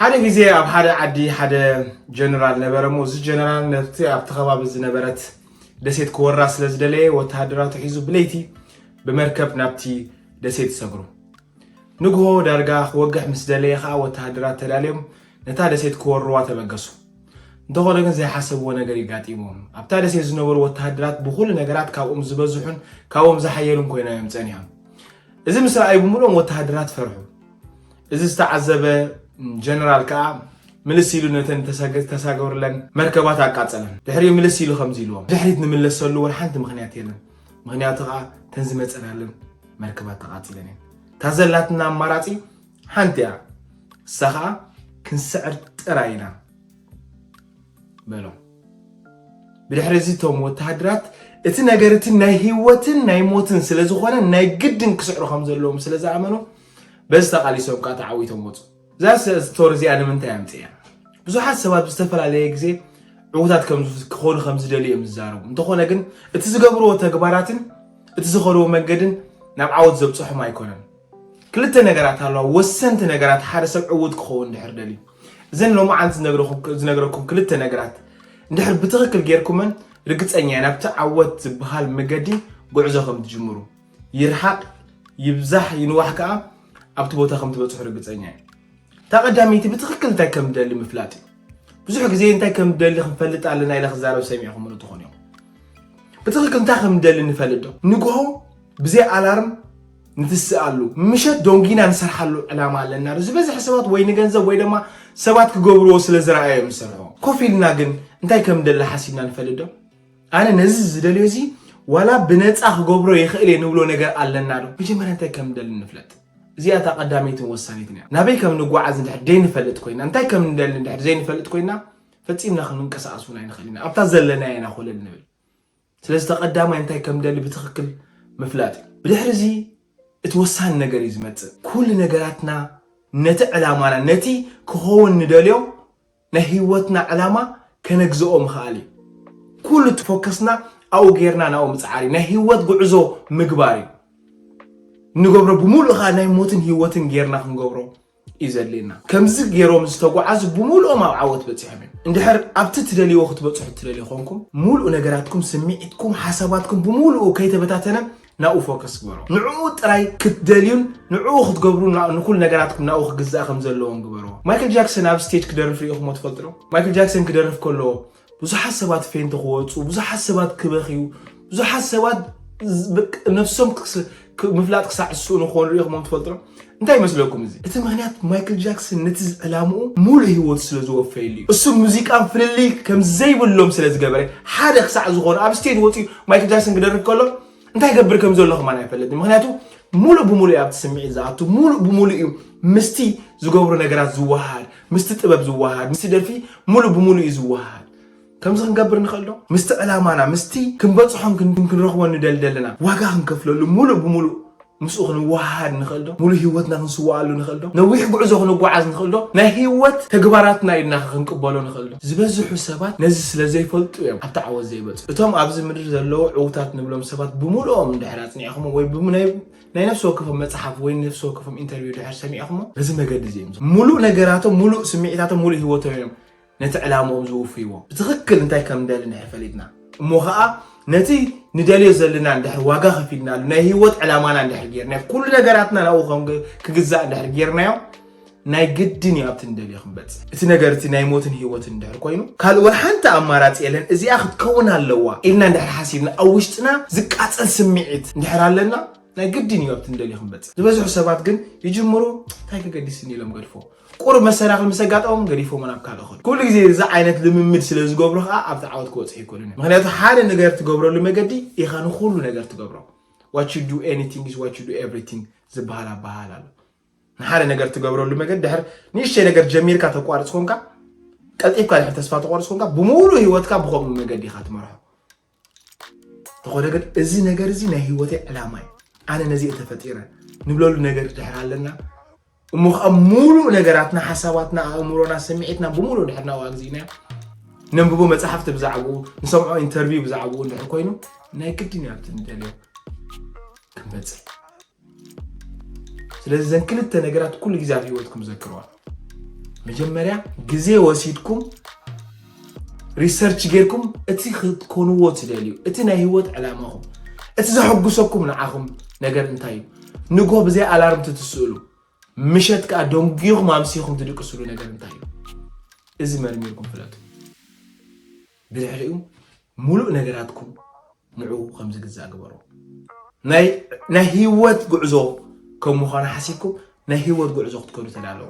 ሓደ ግዜ ኣብ ሓደ ዓዲ ሓደ ጀነራል ነበረ እሞ እዚ ጀነራል ነቲ ኣብቲ ከባቢ ዝነበረት ደሴት ክወራ ስለ ዝደለየ ወተሃደራቱ ሒዙ ብለይቲ ብመርከብ ናብቲ ደሴት ይሰግሩ ንግሆ ዳርጋ ክወግሕ ምስ ደለየ ከዓ ወተሃደራት ተዳልዮም ነታ ደሴት ክወርዋ ተበገሱ እንተኾነ ግን ዘይሓሰብዎ ነገር እዩ ጋጢምዎም። ኣብታ ደሴት ዝነበሩ ወተሃደራት ብኹሉ ነገራት ካብኦም ዝበዝሑን ካብኦም ዝሓየሉን ኮይናዮም ጸኒሖም። እዚ ምስ ረኣዩ ብምሉኦም ወተሃደራት ፈርሑ። እዚ ዝተዓዘበ ጀነራል ከዓ ምልስ ኢሉ ነተን ተሳገሩለን መርከባት ኣቃጸለን ድሕሪኡ ምልስ ኢሉ ከምዚ ኢልዎም ድሕሪት ንምለሰሉ ወላ ሓንቲ ምክንያት የለን ምክንያቱ ከዓ ተን ዝመፀናለን መርከባት ተቃፂለን እየን እታ ዘላትና ኣማራፂ ሓንቲ እያ እሳ ከዓ ክንስዕር ጥራይ ኢና በሎም ብድሕሪ እዚ እቶም ወተሃደራት እቲ ነገር እቲ ናይ ህይወትን ናይ ሞትን ስለ ዝኾነ ናይ ግድን ክስዕሩ ከም ዘለዎም ስለ ዝኣመኑ በዚ ተቓሊሶም ከዓ ተዓዊቶም ወፁ እዛ ስቶሪ እዚኣ ንምንታይ ኣምፅያ ብዙሓት ሰባት ብዝተፈላለየ ግዜ ዕዉታት ክኾኑ ከም ዝደልዩ እዮም ዝዛረቡ እንተኾነ ግን እቲ ዝገብርዎ ተግባራትን እቲ ዝኸድዎ መንገድን ናብ ዓወት ዘብፅሖም ኣይኮነን ክልተ ነገራት ኣለዋ ወሰንቲ ነገራት ሓደ ሰብ ዕውት ክኸውን ድሕር ደልዩ እዘን ሎማዓንቲ ዝነግረኩም ክልተ ነገራት እንድሕር ብትኽክል ጌርኩመን ርግፀኛ እየ ናብቲ ዓወት ዝበሃል መገዲ ጉዕዞ ከም ትጅምሩ ይርሓቕ ይብዛሕ ይንዋሕ ከዓ ኣብቲ ቦታ ከም ትበፅሑ ርግፀኛ እየ እታ ቀዳመይቲ ብትኽክል እንታይ ከም ደሊ ምፍላጥ እዩ ብዙሕ ግዜ እንታይ ከም ደሊ ክንፈልጥ ኣለና ኢለ ክዛረብ ሰሚዕኹም ንትኾኑ እዮም ብትኽክል እንታይ ከም ደሊ ንፈልጥ ዶ ንግሆ ብዘይ ኣላርም ንትስኣሉ ምሸት ዶንጊና ንሰርሓሉ ዕላማ ኣለና ዶ ዝበዝሐ ሰባት ወይ ንገንዘብ ወይ ደማ ሰባት ክገብርዎ ስለ ዝረኣዮ እዮም ዝሰርሕዎ ኮፍ ኢልና ግን እንታይ ከም ንደሊ ሓሲብና ንፈልጥ ዶ ኣነ ነዚ ዝደልዮ እዚ ዋላ ብነፃ ክገብሮ ይኽእል እየ ንብሎ ነገር ኣለና ዶ መጀመርያ እንታይ ከም ንደሊ ንፍለጥ እዚኣ እታ ቀዳመይትን ወሳኒትን እያ ናበይ ከም ንጓዓዝ እንድሕር ዘይንፈልጥ ኮይና እንታይ ከም ንደሊ እንድሕር ዘይንፈልጥ ኮይና ፈፂምና ክንንቀሳቀስ እውን ኣይንኽእል ኢና ኣብታ ዘለና ኢና ኮለል ንብል ስለዚ እቲ ቀዳማይ እንታይ ከም ንደሊ ብትኽክል ምፍላጥ እዩ። ብድሕሪ እዚ እቲ ወሳኒ ነገር እዩ ዝመጽእ። ኩሉ ነገራትና ነቲ ዕላማና ነቲ ክኸውን ንደልዮ ናይ ህይወትና ዕላማ ከነግዝኦ ምኽኣል እዩ። ኩሉ እቲ ፎከስና ኣብኡ ጌርና ናብኡ ምጽዓር እዩ። ናይ ህይወት ጉዕዞ ምግባር እዩ። እንገብሮ ብምሉእ ከኣ ናይ ሞትን ህይወትን ጌርና ክንገብሮ እዩ ዘድልየና። ከምዚ ገይሮም ዝተጓዓዙ ብምሉኦም ኣብ ዓወት በጺሖም እዮም። እንድሕር ኣብቲ ትደልይዎ ክትበጽሑ እትደልዩ ኾንኩም ሙሉእ ነገራትኩም፣ ስምዒትኩም፣ ሓሳባትኩም ብምሉኡ ከይተበታተነ ናብኡ ፎከስ ግበሮ። ንዕኡ ጥራይ ክትደልዩን ንዕኡ ክትገብሩን ንኹሉ ነገራትኩም ናብኡ ክግዛእ ከም ዘለዎን ግበርዎ። ማይክል ጃክሰን ኣብ ስቴጅ ክደርፍ ርኢኹምዎ ትፈልጡ ዶ? ማይክል ጃክሰን ክደርፍ ከሎ ብዙሓት ሰባት ፌንት ክወፁ፣ ብዙሓት ሰባት ክበኽዩ፣ ብዙሓት ሰባት ነፍሶም ምፍላጥ ክሳዕ ዝስእኑ ክኾኑ ሪኢኹሞም ትፈልጡ ዶ? እንታይ ይመስለኩም እዚ? እቲ ምክንያት ማይክል ጃክሰን ነቲ ዕላምኡ ሙሉእ ህይወቱ ስለ ዝወፈየሉ እዩ። እሱ ሙዚቃን ፍልልይ ከም ዘይብሎም ስለ ዝገበረ ሓደ ክሳዕ ዝኾኑ ኣብ ስቴጅ ወፂኡ ማይክል ጃክሰን ክደርፍ ከሎ እንታይ ገብር ከም ዘሎ ከማን ኣይፈለጥን። ምክንያቱ ሙሉእ ብሙሉእ እዩ ኣብቲ ስምዒት ዝኣቱ፣ ሙሉእ ብሙሉእ እዩ ምስቲ ዝገብሮ ነገራት ዝወሃሃድ፣ ምስቲ ጥበብ ዝወሃሃድ ምስቲ ደርፊ ሙሉእ ብሙሉእ እዩ ዝወሃሃድ። ከምዚ ክንገብር ንኽእል ዶ? ምስቲ ዕላማና ምስቲ ክንበጽሖን ክንረኽቦን ንደሊ ዘለና ዋጋ ክንከፍለሉ ሙሉእ ብሙሉእ ምስኡ ክንወሃሃድ ንኽእል ዶ? ሙሉእ ህይወትና ክንስወኣሉ ንኽእል ዶ? ነዊሕ ጉዕዞ ክንጓዓዝ ንኽእል ዶ? ናይ ህይወት ተግባራትና ኢልናኸ ክንቅበሎ ንኽእል ዶ? ዝበዝሑ ሰባት ነዚ ስለ ዘይፈልጡ እዮም ኣብቲ ዓወት ዘይበጽሑ። እቶም ኣብዚ ምድሪ ዘለዉ ዕዉታት ንብሎም ሰባት ብሙሉኦም እንድሕር ኣጽኒዕኹምዎም ወይ ናይ ናይ ነፍሲ ወከፎም መጽሓፍ ወይ ነፍሲ ወከፎም ኢንተርቪው ድሕር ሰሚዕኹሞ በዚ መገዲ እዚ እዮም ሙሉእ ነገራቶም ሙሉእ ስምዒታቶም ሙሉእ ህይወቶም እዮም ነቲ ዕላምኦም ዝውፍይዎ ብትኽክል እንታይ ከም ንደሊ እንድሕር ፈሊጥና እሞ ከዓ ነቲ ንደልዮ ዘለና እንድሕር ዋጋ ከፊልናሉ ናይ ህይወት ዕላማና እንድሕር ጌርናዮ ኩሉ ነገራትና ናብኡ ክግዛእ እንድሕር ጌርናዮ ናይ ግድን እዩ ኣብቲ ንደልዮ ክንበጽሕ። እቲ ነገር እቲ ናይ ሞትን ህይወትን እንድሕር ኮይኑ ካልእ ሓንቲ ኣማራጺ የለን እዚኣ ክትከውን ኣለዋ ኢልና እንድሕር ሓሲብና ኣብ ውሽጥና ዝቃጸል ስምዒት እንድሕር ኣለና ናይ ግድን እዩ ኣብቲ ንደልዮ ክንበጽሕ። ዝበዝሑ ሰባት ግን ይጅምሩ እንታይ ከገዲስኒ ኢሎም ገድፎ ቁሩብ መሰናኽል ምስ ኣጋጠሞም ገዲፎሞ ናብ ካልእ ይኸዱ። ኩሉ ግዜ እዚ ዓይነት ልምምድ ስለ ዝገብሩ ከዓ ኣብቲ ዓወት ክበጽሑ ኣይኮኑን እዮም። ምክንያቱ ሓደ ነገር ትገብረሉ መገዲ ኢኻ ንኹሉ ነገር ትገብሮ ዋት ዩ ዱ ኤኒቲንግ ኢዝ ዋት ዩ ዱ ኤቭሪቲንግ ዝበሃል ኣበሃህላ ኣሎ። ንሓደ ነገር ትገብረሉ መገድ ድሕር ንእሽተይ ነገር ጀሚርካ ተቋርፅ ኮንካ ቀልጢፍካ ድሕር ተስፋ ተቋርፅ ኮንካ ብሙሉ ህይወትካ ብከምኡ መገዲ ኢኻ ትመርሖ ተኾነ ግን እዚ ነገር እዚ ናይ ህይወተይ ዕላማ እዩ ኣነ ነዚ ተፈጢረ ንብለሉ ነገር ድሕር ኣለና እሞ ከዓ ሙሉእ ነገራትና ሓሳባትና ኣእምሮና ስምዒትና ብሙሉ ድሕር ናብኡ ኣግዚእናዮ ነንብቦ መፅሓፍቲ ብዛዕባኡ ንሰምዖ ኢንተርቪው ብዛዕባኡ እንድሕር ኮይኑ ናይ ግድን ኣብቲ ንደልዮ ክንበፅሕ ስለዚ ዘን ክልተ ነገራት ኩሉ ግዜ ኣብ ሂወትኩም ዘክርዋ መጀመርያ ግዜ ወሲድኩም ሪሰርች ጌርኩም እቲ ክትኮንዎ ትደልዩ እቲ ናይ ሂወት ዕላማኹም እቲ ዘሐጉሰኩም ንዓኹም ነገር እንታይ እዩ ንጎ ብዘይ ኣላርም ትትስእሉ ምሸት ከዓ ደንጉኹም ኣምሲኹም ትድቅስሉ ነገር እንታይ እዩ እዚ መርሚርኩም ፍለጡ ብድሕሪኡ ሙሉእ ነገራትኩም ንዕኡ ከም ዝግዛእ ግበርዎ። ናይ ህይወት ጉዕዞ ከም ምዃኑ ሓሲብኩም ናይ ህይወት ጉዕዞ ክትከዱ ተዳለዉ።